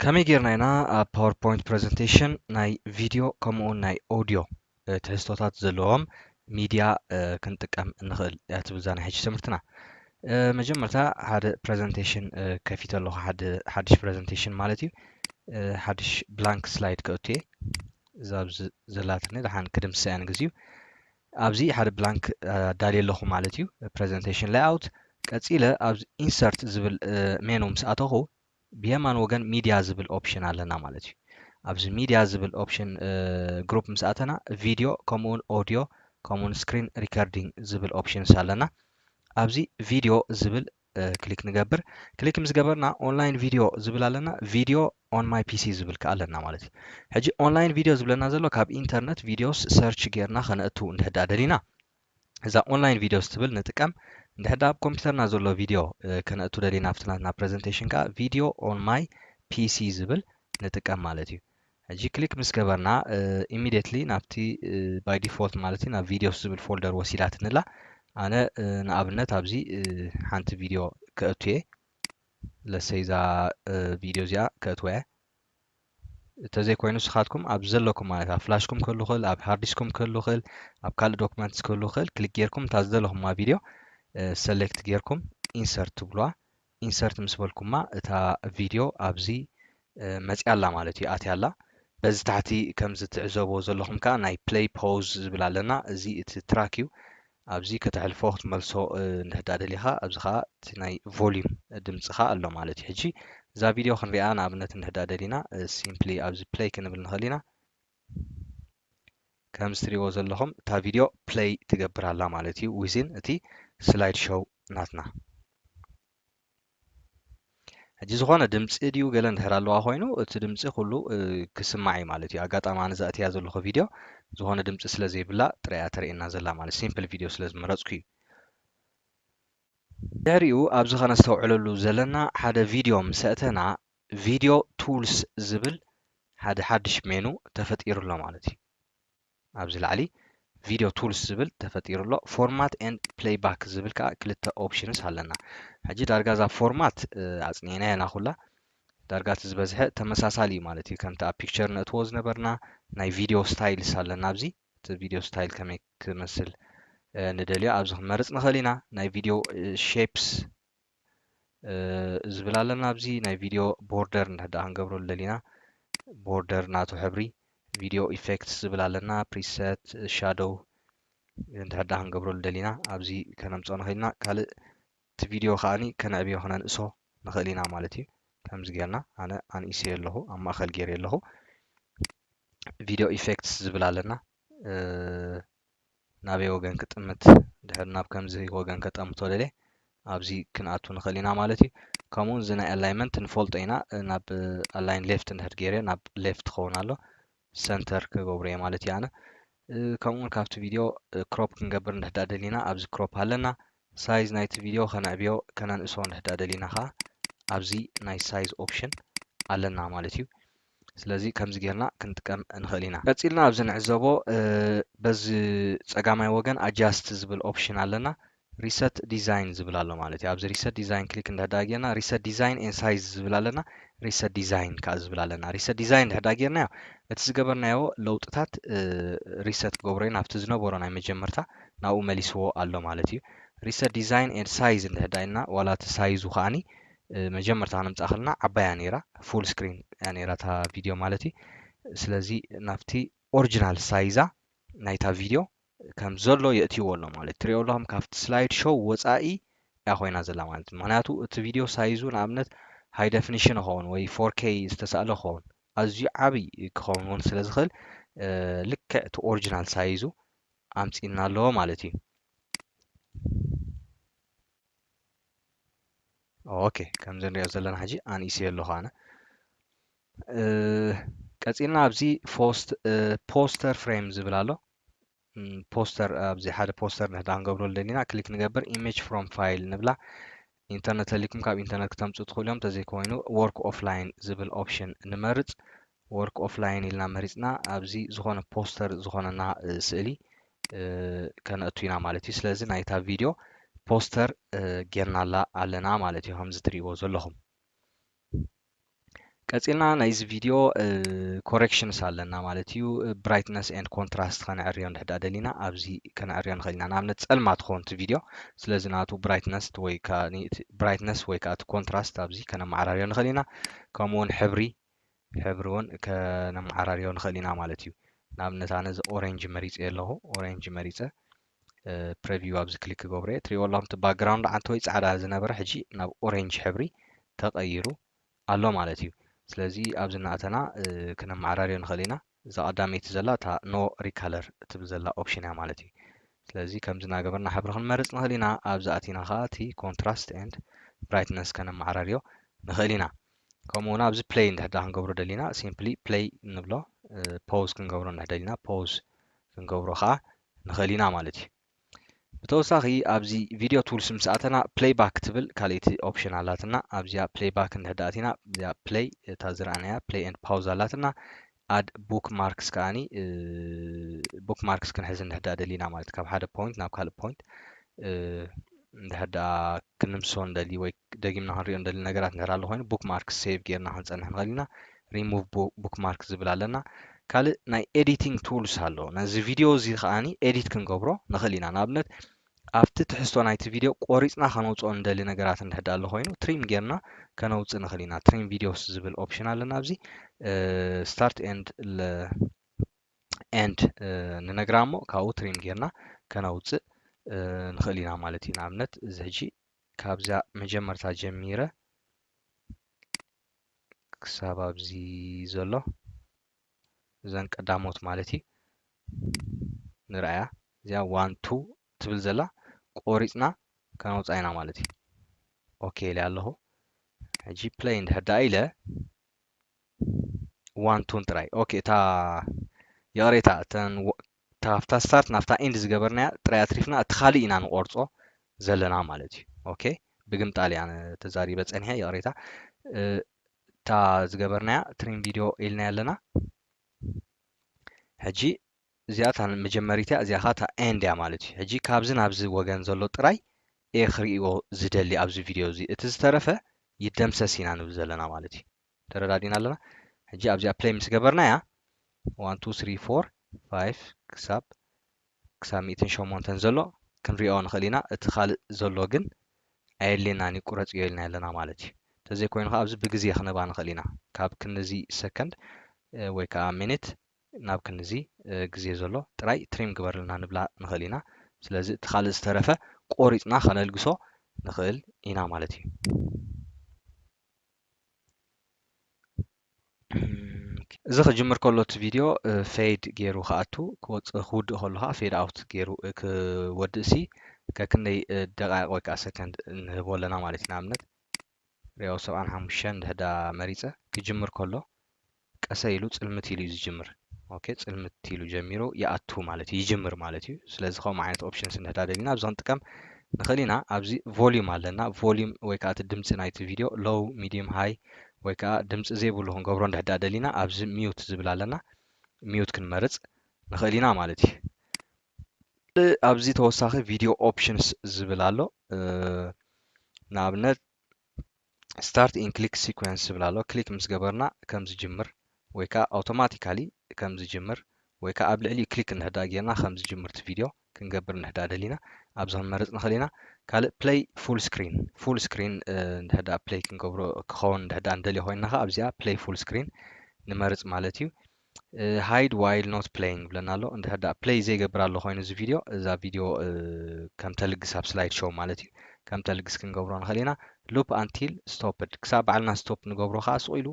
ከመይ ጌርና ኢና ኣብ ፓወርፖይንት ፕረዘንቴሽን ናይ ቪድዮ ከምኡውን ናይ ኦድዮ ትሕዝቶታት ዘለዎም ሚድያ ክንጥቀም እንኽእል እያ ትብል እዛ ናይ ሕጂ ትምህርትና። መጀመርታ ሓደ ፕረዘንቴሽን ከፊተ ኣለኹ፣ ሓደ ሓድሽ ፕረዘንቴሽን ማለት እዩ። ሓድሽ ብላንክ ስላይድ ከእቱ እየ። እዛ ኣብዚ ዘላትኒ ድሓን ክድምስሳ እያ ንግዚኡ። ኣብዚ ሓደ ብላንክ ኣዳልየ ኣለኹ ማለት እዩ፣ ፕረዘንቴሽን ሌይኣውት ቀጺለ ኣብዚ ኢንሰርት ዝብል ሜኑ ምስ ኣተኹ ብየማን ወገን ሚድያ ዝብል ኦፕሽን ኣለና ማለት እዩ። ኣብዚ ሚድያ ዝብል ኦፕሽን ግሩፕ ምስ ኣተና ቪድዮ ከምኡውን ኦድዮ ከምኡውን ስክሪን ሪከርዲንግ ዝብል ኦፕሽንስ ኣለና። ኣብዚ ቪድዮ ዝብል ክሊክ ንገብር። ክሊክ ምስ ገበርና ኦንላይን ቪድዮ ዝብል ኣለና። ቪድዮ ኦን ማይ ፒሲ ዝብል ከዓ ኣለና ማለት እዩ። ሕጂ ኦንላይን ቪድዮ ዝብለና ዘሎ ካብ ኢንተርነት ቪድዮስ ሰርች ጌርና ከነእቱ እንድሕዳ ደሊና እዛ ኦንላይን ቪድዮስ ትብል ንጥቀም እንድሕር ደኣ ኣብ ኮምፒውተርና ዘሎ ቪድዮ ከነእቱ ደሊና ኣብቲ ናትና ፕረዘንቴሽን ከዓ ቪድዮ ኦን ማይ ፒሲ ዝብል ንጥቀም ማለት እዩ ሕጂ ክሊክ ምስ ገበርና ኢሚዲየትሊ ናብቲ ባይ ዲፎልት ማለት እዩ ናብ ቪዲዮስ ዝብል ፎልደር ወሲዳትንላ ኣነ ንኣብነት ኣብዚ ሓንቲ ቪድዮ ከእቱ እየ ለሰይ እዛ ቪድዮ እዚኣ ከእትወ እየ እተዘይ ኮይኑ ንስኻትኩም ኣብ ዘለኩም ማለት ኣብ ፍላሽኩም ክህሉ ይኽእል ኣብ ሃርዲስኩም ክህሉ ይኽእል ኣብ ካልእ ዶክመንትስ ክህሉ ይኽእል ክሊክ ጌርኩም እታ ዝደለኹማ ቪድዮ ሰሌክት ጌርኩም ኢንሰርት ትብሏ ኢንሰርት ምስ በልኩማ እታ ቪድዮ ኣብዚ መፅያ ኣላ ማለት እዩ ኣትያ ኣላ በዚ ታሕቲ ከምዚ ትዕዘብዎ ዘለኹም ከዓ ናይ ፕሌይ ፖዝ ዝብል ኣለና እዚ እቲ ትራክ እዩ ኣብዚ ከተሕልፎ ክትመልሶ እንድሕዳ ደሊኻ ኣብዚ ከኣ እቲ ናይ ቮሊዩም ድምጽኻ ኣሎ ማለት እዩ ሕጂ እዛ ቪድዮ ክንሪኣ ንኣብነት እንድሕዳ ደሊና ሲምፕሊ ኣብዚ ፕለይ ክንብል ንኽእል ኢና ከምዚ ትሪእዎ ዘለኹም እታ ቪድዮ ፕለይ ትገብር ኣላ ማለት እዩ ዊዝን እቲ ስላይድ ሾው ናትና ሕጂ ዝኾነ ድምፂ ድዩ ገለ እንድሕር ኣለዋ ኮይኑ እቲ ድምፂ ኩሉ ክስማዕ እዩ ማለት እዩ ኣጋጣሚ ኣነ ዘእትያ ዘለኹ ቪድዮ ዝኾነ ድምፂ ስለ ዘይብላ ጥራያ ተርእየና ዘላ ማለት ሲምፕል ቪድዮ ስለ ዝመረፅኩ እዩ ድሕሪኡ ኣብዚ ከነስተውዕለሉ ዘለና ሓደ ቪድዮ ምስ ኣእተና ቪድዮ ቱልስ ዝብል ሓደ ሓድሽ ሜኑ ተፈጢሩ ኣሎ ማለት እዩ ኣብዚ ላዕሊ ቪድዮ ቱልስ ዝብል ተፈጢሩ ኣሎ ፎርማት ኤንድ ፕለይ ባክ ዝብል ከዓ ክልተ ኦፕሽንስ ኣለና ሕጂ ዳርጋ እዛ ፎርማት ኣፅኒዕናያ ኢና ኩላ ዳርጋ እቲ ዝበዝሐ ተመሳሳሊ እዩ ማለት እዩ ከምቲ ኣብ ፒክቸር ነእትዎ ዝነበርና ናይ ቪድዮ ስታይልስ ኣለና ኣብዚ እቲ ቪድዮ ስታይል ከመይ ክመስል ንደልዮ ኣብዚ ክመርፅ ንኽእል ኢና ናይ ቪድዮ ሼፕስ ዝብል ኣለና ኣብዚ ናይ ቪድዮ ቦርደር እንድሕር ደኣ ክንገብረሉ ደሊና ቦርደር ናቱ ሕብሪ ቪድዮ ኢፌክትስ ዝብል ኣለና ፕሪሰት ሻዶው እንድሕር ደኣ ክንገብረሉ ደሊና ኣብዚ ከነምፅኦ ንኽእል ኢና ካልእ እቲ ቪድዮ ከዓኒ ከነዕብዮ ክነንእሶ ንኽእል ኢና ማለት እዩ ከምዚ ጌርና ኣነ ኣንኢሰዮ ኣለኹ ኣብ ማእኸል ጌርዮ ኣለኹ ቪድዮ ኢፌክትስ ዝብል ኣለና ናበይ ወገን ክጥምት ድሕሪ ናብ ከምዚ ወገን ከጠምቶ ደልየ ኣብዚ ክንኣቱ ንኽእል ኢና ማለት እዩ ከምኡ እዚ ናይ ኣላይመንት ንፈልጦ ኢና ናብ ኣላይን ሌፍት እንድሕር ገይረ ናብ ሌፍት ክኸውን ኣሎ ሰንተር ክገብሮ እየ ማለት እዩ ኣነ ከምኡውን ካብቲ ቪድዮ ክሮፕ ክንገብር እንድሕዳ ደሊና ኣብዚ ክሮፕ ኣለና ሳይዝ ናይቲ ቪድዮ ከነዕብዮ ከነንእሶ እንድሕዳ ደሊና ከዓ ኣብዚ ናይ ሳይዝ ኦፕሽን ኣለና ማለት እዩ ስለዚ ከምዚ ጌርና ክንጥቀም ንኽእል ኢና። ቀጺልና ኣብዚ ንዕዘቦ በዚ ጸጋማይ ወገን ኣጃስት ዝብል ኦፕሽን ኣለና። ሪሰት ዲዛይን ዝብል ኣሎ ማለት እዩ። ኣብዚ ሪሰት ዲዛይን ክሊክ እንድሕዳ ጌርና ሪሰት ዲዛይን ኤን ሳይዝ ዝብል ኣለና። ሪሰት ዲዛይን ከኣ ዝብል ኣለና። ሪሰት ዲዛይን እንድሕዳ ጌርናዮ እቲ ዝገበርናዮ ለውጥታት ሪሰት ክገብሮ እዩ ናብቲ ዝነበሮ ናይ መጀመርታ ናብኡ መሊስዎ ኣሎ ማለት እዩ። ሪሰት ዲዛይን ኤን ሳይዝ እንድሕዳ ኢልና ዋላ እቲ ሳይዙ ከኣኒ መጀመርታ ክንምጻእ ከለና ዓባይ እያ ነይራ ፉል ስክሪን እያ ነይራ እታ ቪድዮ ማለት እዩ ስለዚ ናብቲ ኦሪጂናል ሳይዛ ናይታ ቪድዮ ከም ዘሎ የእትይዎ ኣሎ ማለት ትሪኦ ኣለኹም ካብቲ ስላይድ ሾው ወጻኢ እያ ኮይና ዘላ ማለት ምክንያቱ እቲ ቪድዮ ሳይዙ ንኣብነት ሃይ ደፊኒሽን ይኸውን ወይ ፎር ኬይ ዝተሳእለ ክኸውን ኣዝዩ ዓብይ ክኸውን እውን ስለ ዝኽእል ልክዕ እቲ ኦሪጂናል ሳይዙ ኣምጺእና ኣለዎ ማለት እዩ ኦኬ ከምዚ ንሪኦ ዘለና ሕጂ ኣንኢሰዮ ኣለኹ ኣነ ቀፂልና ኣብዚ ፎስት ፖስተር ፍሬም ዝብል ኣሎ ፖስተር ኣብዚ ሓደ ፖስተር ንሕዳ ክንገብሮ ደሊና ክሊክ ንገብር ኢሜጅ ፍሮም ፋይል ንብላ ኢንተርነት ተሊኩም ካብ ኢንተርነት ክተምፁ ትኽእሉ እዮም እንተዘይኮይኑ ወርክ ኦፍላይን ዝብል ኦፕሽን ንመርፅ ወርክ ኦፍ ላይን ኢልና መሪጽና ኣብዚ ዝኾነ ፖስተር ዝኾነና ስእሊ ከነእቱ ኢና ማለት እዩ ስለዚ ናይታ ቪድዮ ፖስተር ጌርናላ ኣለና ማለት እዩ ከምዚ ትሪእዎ ዘለኹም ቀፂልና ናይዚ ቪድዮ ኮሬክሽንስ ኣለና ማለት እዩ ብራይትነስ ኤንድ ኮንትራስት ከነዕርዮ ንድሕዳ ደሊና ኣብዚ ከነዕርዮ ንኽእል ኢና ንኣብነት ፀልማ ትኸውን እቲ ቪድዮ ስለዚ ናቱ ብራይትነስ ወይ ብራይትነስ ወይ ከዓ እቲ ኮንትራስት ኣብዚ ከነመዓራርዮ ንኽእል ኢና ከምኡውን ሕብሪ ሕብሪ ውን ከነመዓራርዮ ንኽእል ኢና ማለት እዩ ንኣብነት ኣነ እዚ ኦሬንጅ መሪፀዮ ኣለኹ ኦሬንጅ መሪፀ ፕረቪው ኣብዚ ክሊክ ክገብሮ እየ ትሪእዎ ኣለኹም እቲ ባክግራውንድ ዓንተወይ ፃዕዳ ዝነበረ ሕጂ ናብ ኦሬንጅ ሕብሪ ተቐይሩ ኣሎ ማለት እዩ ስለዚ ኣብዚ እናእተና ክነመዓራርዮ ንኽእል ኢና እዛ ቀዳመይቲ ዘላ እታ ኖ ሪካለር እትብል ዘላ ኦፕሽን እያ ማለት እዩ ስለዚ ከምዚ እናገበርና ሕብሪ ክንመርፅ ንኽእል ኢና ኣብዚ ኣቲና ከዓ እቲ ኮንትራስት ኤንድ ብራይትነስ ከነመዓራርዮ ንኽእል ኢና ከምኡ እውን ኣብዚ ፕለይ እንድሕዳ ክንገብሮ ደሊና ሲምፕሊ ፕለይ ንብሎ ፖዝ ክንገብሮ እንድሕደሊና ፖዝ ክንገብሮ ከዓ ንኽእል ኢና ማለት እዩ ብተወሳኺ ኣብዚ ቪድዮ ቱልስ ምስ ኣተና ፕለይ ባክ ትብል ካልእቲ ኦፕሽን ኣላትና ኣብዚኣ ፕለይ ባክ እንድሕር ደኣ ኣቲና እዚኣ ፕለይ እታ ዝረኣናያ ፕለይ ኤንድ ፓውዝ ኣላትና ኣድ ቡክ ማርክስ ከኣኒ ቡክ ማርክስ ክንሕዝ እንድሕር ደኣ ደሊና ማለት ካብ ሓደ ፖይንት ናብ ካልእ ፖይንት እንድሕር ደኣ ክንምሶ ንደሊ ወይ ደጊምና ክንሪኦ እንደሊ ነገራት እንድሕር ኣሎ ኮይኑ ቡክማርክስ ሴቭ ጌርና ክንጸንሕ ንኽእል ኢና። ሪሙቭ ቡክማርክ ዝብል ኣለና። ካልእ ናይ ኤዲቲንግ ቱልስ ኣሎ። ነዚ ቪድዮ እዚ ከኣ ኤዲት ክንገብሮ ንኽእል ኢና። ንኣብነት ኣብቲ ትሕዝቶ ናይቲ ቪድዮ ቆሪጽና ከነውጽኦ እንደሊ ነገራት እንድሕር ኣሎ ኮይኑ ትሪም ጌርና ከነውጽእ ንኽእል ኢና። ትሪም ቪድዮስ ዝብል ኦፕሽን ኣለና ኣብዚ ስታርት ኤንድ ኤንድ ንነግራ እሞ ካብኡ ትሪም ጌርና ከነውጽእ ንኽእል ኢና ማለት እዩ። ንኣብነት እዚ ሕጂ ካብዛ መጀመርታ ጀሚረ ክሳብ ኣብዚ ዘሎ እዘን ቀዳሞት ማለት እዩ ንርኣያ እዚኣ ዋን ቱ ትብል ዘላ ቆሪፅና ከነውፅኣ ኢና ማለት እዩ ኦኬ ኢለ ኣለኹ ሕጂ ፕለይ እንድሕር ደኣ ኢለ ዋን ቱን ጥራይ ኦኬ እታ ይቕሬታ እተን ካብታ ስታርት ናብታ ኢንድ ዝገበርናያ ጥራይ ኣትሪፍና እቲ ካልእ ኢና ንቆርጾ ዘለና ማለት እዩ ኦኬ ብግምጣል እያ ተዛሪበ ጸኒሐ ይቕሬታ እታ ዝገበርናያ ትሪም ቪድዮ ኢልናያ ኣለና ሕጂ እዚኣ እታ መጀመሪት እያ እዚኣ እታ ኤንድ እያ ማለት እዩ ሕጂ ካብዚ ናብዚ ወገን ዘሎ ጥራይ እየ ክርእዮ ዝደሊ ኣብዚ ቪድዮ እዚ እቲ ዝተረፈ ይደምሰስ ኢና ንብል ዘለና ማለት እዩ ተረዳዲና ኣለና ሕጂ ኣብዚኣ ፕለይ ምስ ገበርናያ ዋን ቱ ስሪ ፎር ፋይፍ ክሳብ ክሳብ ሚእትን ሸሞንተን ዘሎ ክንሪኦ ንኽእል ኢና እቲ ካልእ ዘሎ ግን ኣየድልየናን እዩ ቁረጽዮ ኢልና ኣለና ማለት እዩ ተዘይኮይኑ ከኣ ኣብዚ ብግዜ ክነባ ንኽእል ኢና ካብ ክንዚ ሰከንድ ወይ ከኣ ሚኒት ናብ ክንዚ ግዜ ዘሎ ጥራይ ትሪም ግበርልና ንብላ ንኽእል ኢና ስለዚ እቲ ካልእ ዝተረፈ ቆሪጽና ከነልግሶ ንኽእል ኢና ማለት እዩ እዚ ክጅምር ከሎ እቲ ቪድዮ ፌድ ገይሩ ክኣቱ ክወፅእ ክውድእ ከሎ ከዓ ፌድ ኣውት ገይሩ ክወድእ ሲ ከክንደይ ደቃይቅ ወይ ከዓ ሰከንድ ንህቦ ኣለና ማለት እዩ ንኣብነት ሪኦ ሰብዓን ሓሙሽተን ድሕዳ መሪፀ ክጅምር ከሎ ቀሰ ኢሉ ጽልምት ኢሉ እዩ ዝጅምር ኦኬ ጽልምት ኢሉ ጀሚሩ ይኣቱ ማለት እዩ ይጅምር ማለት እዩ ስለዚ ከምኡ ዓይነት ኦፕሽንስ እንድሕዳ ደሊና ኣብዚ ክንጥቀም ንኽእል ኢና ኣብዚ ቮሊዩም ኣለና ቮሊዩም ወይ ከዓ እቲ ድምፂ ናይቲ ቪድዮ ሎው ሚዲየም ሃይ ወይ ከዓ ድምፂ ዘይብሉ ክንገብሮ እንድሕዳ ደሊና ኣብዚ ሚዩት ዝብል ኣለና ሚዩት ክንመርፅ ንኽእል ኢና ማለት እዩ ኣብዚ ተወሳኺ ቪድዮ ኦፕሽንስ ዝብል ኣሎ ንኣብነት ስታርት ኢን ክሊክ ሲኮንስ ዝብል ኣሎ ክሊክ ምስ ገበርና ከም ዝጅምር ወይ ከዓ ኣውቶማቲካሊ ከም ዝጅምር ወይ ከዓ ኣብ ልዕሊኡ ክሊክ እንሕዳ ጌርና ከም ዝጅምር እቲ ቪድዮ ክንገብር እንሕዳ ደሊና ኣብዚ ክንመርፅ ንኽእል ኢና ካልእ ፕለይ ፉል ስክሪን ፉል ስክሪን እንድሕዳ ፕለይ ክንገብሮ ክኸውን እንድሕዳ እንደልዮ ኮይንና ከዓ ኣብዚኣ ፕለይ ፉል ስክሪን ንመርፅ ማለት እዩ ሃይድ ዋይል ኖት ፕለይንግ ይብለና ኣሎ እንድሕር ደኣ ፕለይ ዘይገብር ኣሎ ኮይኑ እዚ ቪድዮ እዛ ቪድዮ ከም ተልግስ ኣብ ስላይድ ሾው ማለት እዩ ከም ተልግስ ክንገብሮ ንኽእል ኢና ሉፕ ኣንቲል ስቶፕድ ክሳብ ባዕልና ስቶፕ ንገብሮ ከዓ ስቑ ኢሉ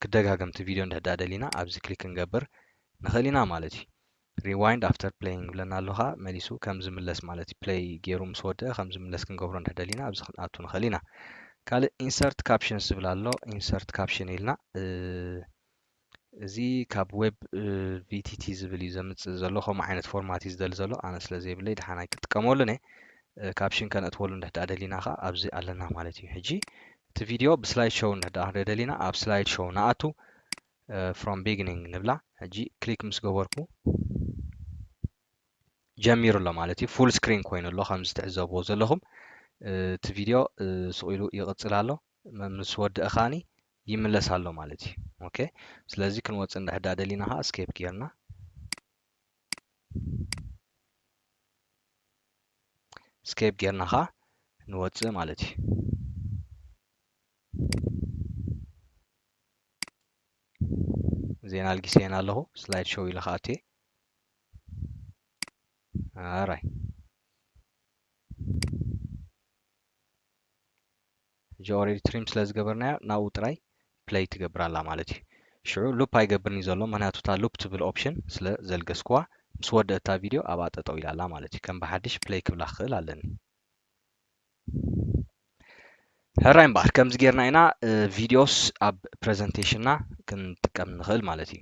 ክደጋገምቲ ቪድዮ እንድሕር ደኣ ደሊና ኣብዚ ክሊክ ክንገብር ንኽእል ኢና ማለት እዩ Rewind after playing ይብለና ኣሎ ከኣ መሊሱ ከም ዝምለስ ማለት እዩ play ጌሩ ምስ ወድኣ ከም ዝምለስ ክንገብሮ እንድሕር ደሊና ኣብዚ ክንኣቱ ንኽእል ኢና ካልእ insert captions ዝብል ኣሎ insert caption ኢልና እዚ ካብ ዌብ ቪቲቲ ዝብል እዩ ዘምፅእ ዘሎ ከምኡ ዓይነት ፎርማት እዩ ዝደሊ ዘሎ ኣነ ስለ ዘይብለይ ድሓን ኣይክጥቀመሉን እየ ካብሽን ከነእትወሉ እንድሕዳ ደሊና ከዓ ኣብዚ ኣለና ማለት እዩ ሕጂ እቲ ቪድዮ ብስላይድ ሾው እንድሕዳ ክንሪኦ ደሊና ኣብ ስላይድ ሾው ንኣቱ ፍሮም ቢግኒንግ ንብላ ሕጂ ክሊክ ምስ ገበርኩ ጀሚሩ ኣሎ ማለት እዩ ፉል ስክሪን ኮይኑ ኣሎ ከም ዝትዕዘብዎ ዘለኹም እቲ ቪድዮ ስቕ ኢሉ ይቕፅል ኣሎ ምስ ወድእ ኻኒ ይምለስ ኣሎ ማለት እዩ ኦኬ ስለዚ ክንወፅእ እንድሕዳ ደሊና ከዓ ስኬፕ ጌርና ስኬፕ ጌርና ከዓ ንወፅእ ማለት እዩ ዜና ኣልጊሰየን ኣለኹ ስላይድ ሾው ኢለ ክኣቱ እየ ኣራይ ሕጂ ኦሬዲ ትሪም ስለ ዝገበርናዮ ናብኡ ጥራይ ፕለይ ትገብር ኣላ ማለት እዩ ሽዑ ሉፕ ኣይገብርን እዩ ዘሎ ምክንያቱ እታ ሉፕ ትብል ኦፕሽን ስለ ዘልገስኩዋ ምስ ወደእታ ቪድዮ ኣብኣ ጠጠው ኢላ ኣላ ማለት እዩ ከም ብሓድሽ ፕለይ ክብላ ክኽእል ኣለኒ ሕራይ እምበኣር ከምዚ ጌርና ኢና ቪድዮስ ኣብ ፕረዘንቴሽንና ክንጥቀም ንኽእል ማለት እዩ